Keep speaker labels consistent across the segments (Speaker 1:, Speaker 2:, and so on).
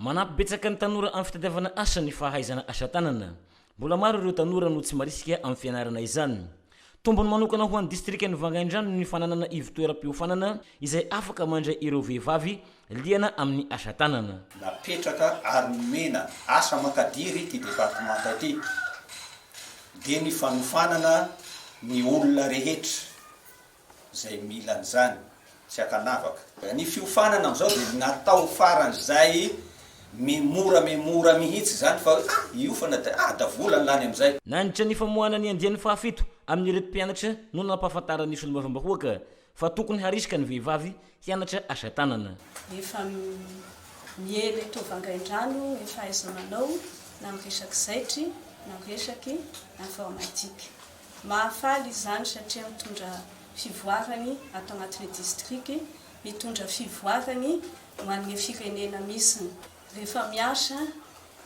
Speaker 1: Manampy betsaka ny tanora amin'ny fitadiavana asa ny fahaizana asa tanana. Mbola maro ireo tanora no tsy marisika amin'ny fianarana izany. Tombony manokana ho an'ny distrikan'i Vangaindrano ny fananana ivo-toeram-piofanana izay afaka mandray ireo vehivavy liana amin'ny asa tanana. Napetraka
Speaker 2: ary nomena asa aman-kadiry ity departemanta ity dia ny fanofanana ny olona rehetra izay mila an'izany tsy ankanavaka. Ny fiofanana amin'izao dia natao faran'izay mimora mimora mihitsy izany fa hoe ah hiofana dia ah da vola ny lany amin'izay. Nandritra ny famoahana ny
Speaker 1: andiany fahafito amin'ireto mpianatra no nampahafantaran'ny solombavambahoaka fa tokony harisika ny vehivavy Hianatra asa tanana. Efa
Speaker 3: miely eto Vangaindrano ny fahaiza-manao na amin'ny resaka zaitry na amin'ny resaky informatique. Mahafaly izany satria mitondra fivoarany ato anatin'ny distriky, mitondra fivoarany ho an'ny firenena misy. Rehefa miasa,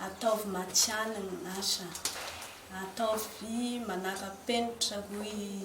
Speaker 3: ataovy matihanina ny asa, ataovy manara-penitra hoy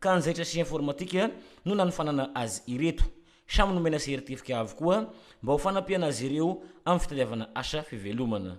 Speaker 1: ka anjaitra sy informatika no nanofanana azy ireto. Samy nomena seritefika avokoa mba ho fanampiana azy ireo amin'ny fitadiavana asa fivelomana.